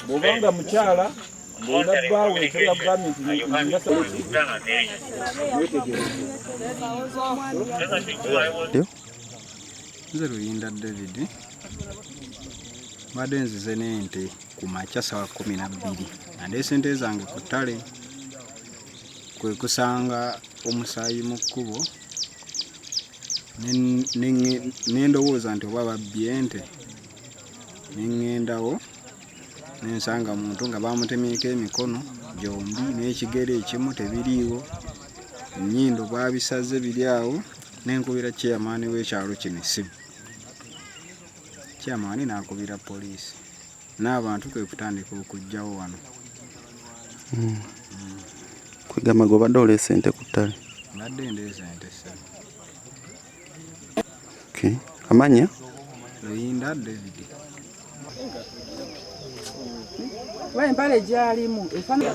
bwobanga mukyala ng'olina bbaawe ekyala bugambye nti wetegereze nze luyinda david mbadde nzize n'ente ku makya sawa kumi na bbiri nandeesente zange ku ttale kwe kusanga omusaayi mu kkubo ne ndowooza nti oba babbye nte ne ŋŋendawo ne nsanga muntu nga baamutemyeko emikono gyombi n'ekigere ekimu tebiriiwo ennyindo baabisaze biri awo ne nkubira ceyamaani w'ekyalo kino essimu ceyamaani n'akubira poliisi n'abantu kwe kutandika okujjawo wano hmm. kwegamba gwe obadde oleesa ente ku ttale mbadde ndeesa ente ssatu okay. amanya luyinda david kuba empale gyalimu efaanaa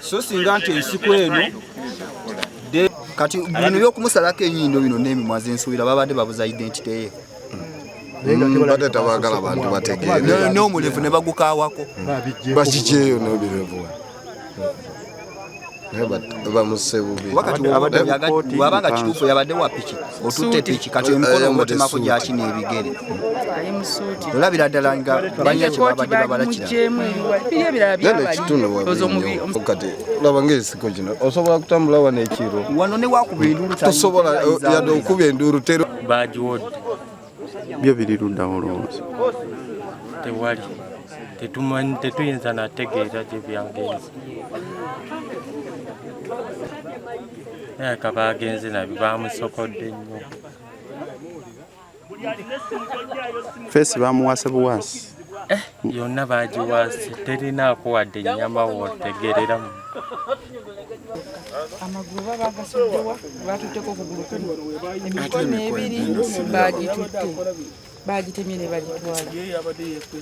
so singa nti ensiko eno kati bino byokumusalako enyindo bino nemimwa zensuubira babadde babuza identity ye mbadde tabagala bantu bategeere n'omulevu ne bagukawako bakikyeyo n'obirevu naye bamusebubi wabanga kituufu yabadde wapiki otutte piki kati emikono omutemako gyaki n'ebigere olabira ddala nga balina kyebabadde babalakiraekitunuokati laba ngaesiko kino osobola kutambula wano ekiro wano newakuba enduulu tosobola yadde okuba enduulu tero bagiwodde byo biri luddawo olowooza tewali tetumanyi tetuyinza nategeera gye byagenze naye kaba agenze nabyo bamusokodde nnyo feesi bamuwase buwaasi eh, yonna bagiwaase terinaako wadde ennyama wotegereramu amagulu oba bagasuddewa batutteko okugulu kumu emikono ebiri bagitutte bagitemye ne bagitwala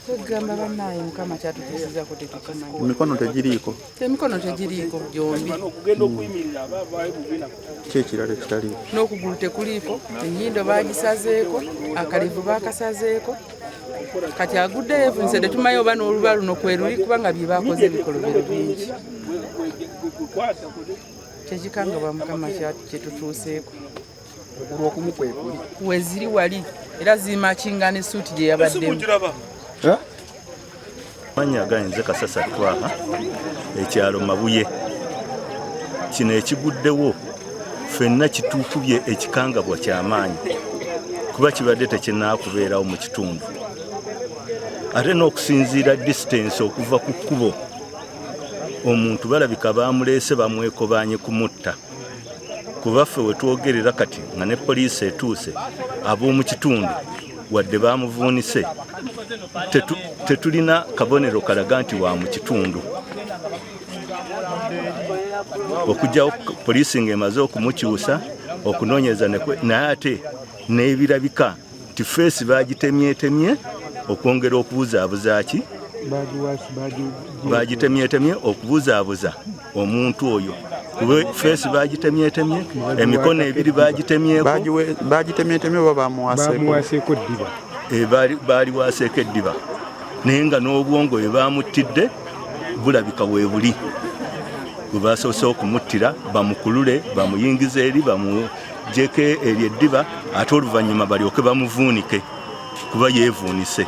kwegamba banaye mukama kyatukisizako tetukimanyi emikono tegiriiko emikono tegiriiko gyombi kyekirala ekitaliiko n'okugulu tekuliiko enyindo bagisazeeko akalevu bakasazeeko kati agudde yefunise tetumayo oba n'oluba luno kweruli kubanga bye bakoze ebikolobero bingi kyekikangabwa mukama kyetutuuseeko okuluokumu kwekuli weziri wali era zimakingana esuuti gye yabaddemu manya gainze kasasa twaha ekyalo mabuye kino ekiguddewo fenna kitukubye ekikangabwa kyamaanyi kuba kibadde tekinaakubeerawo mu kitundu ate n'okusinziira disitansi okuva ku kkubo omuntu balabika baamuleese bamwekobanye kumutta kubaffe wetwogerera kati nga ne poliisi etuuse ab'omu kitundu wadde baamuvuunise tetulina kabonero kalaga nti wa mu kitundu okugyawo poliisi nga emaze okumukyusa okunoonyereza naye ate n'ebirabika nti feesi baagitemyetemye okwongera okubuzaabuza ki baagitemyetemye okubuzaabuza omuntu oyo kuba feesi bagitemyetemye emikono ebiri bagitemyetemyebagitemyetemye oba bamuwaseeko eddiba eh, baaliwaseeko eddiba naye nga n'obwongo bwe bamuttidde bulabika weebuli bwe basoose okumuttira bamukulule bamuyingiza eri bamujeko eryo eddiba ate oluvannyuma balyoke bamuvuunike kuba yeevuunise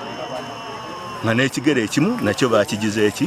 nga n'ekigere ekimu nakyo bakigiza eki